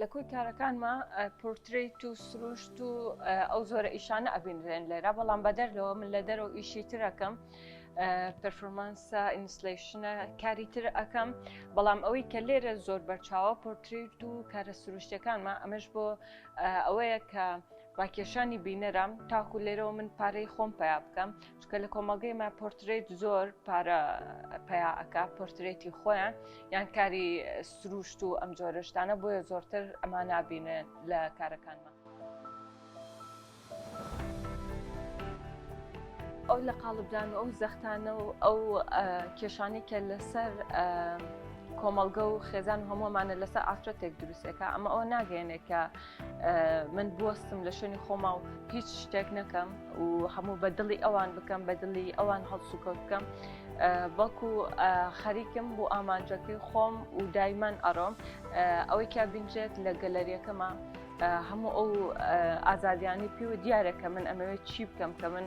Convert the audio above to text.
لە کۆی کارەکانما پۆرتریت و سروشت و ئەو زۆرە ئیشانە ئەبینرێن لێرە بەڵام بەدەر لەوە من لە دەرەوە ئیشی ترەکەم پرفۆمانسە ئینسلیشنە کاری تر ئەەکەم بەڵام ئەوەی کە لێرە زۆر بەرچاوە پۆرتریت و کارە سروشتەکانمە ئەمەش بۆ ئەوەیە کە ڕاکێشانی بینەرم تاکو لێرەوە من پارەی خۆم پیا بکەم چونکە لە کۆمەڵگەی ما پۆرترێت زۆر پارە پیا ئەکا پۆرترێتی خۆیان یان کاری سروشت و ئەم جۆرەشتانە بۆیە زۆرتر ئەما نابینێن لە کارەکانمان. ئەو لە قاڵبدان و ئەو زەختانە و ئەو کێشانی کە لەسەر کۆمەڵگە و خێزان هەموومانە لەسەر ئافرەتێک دروستەکە ئەمە ئەو ناگەێنێکە من بوەستم لە شوێنی خۆما و هیچ شتێک نەکەم و هەموو بە دڵی ئەوان بکەم بە دڵی ئەوان هەڵسوکەوت بکەم بەڵکو خەریکم بۆ ئامانجەکەی خۆم و دایمان ئەڕۆم ئەوەی کیا بینرێت لە گەلەریەکەمە هەموو ئەو ئازادیانی پێوە دیارە کە من ئەمەوێت چی بکەم کە من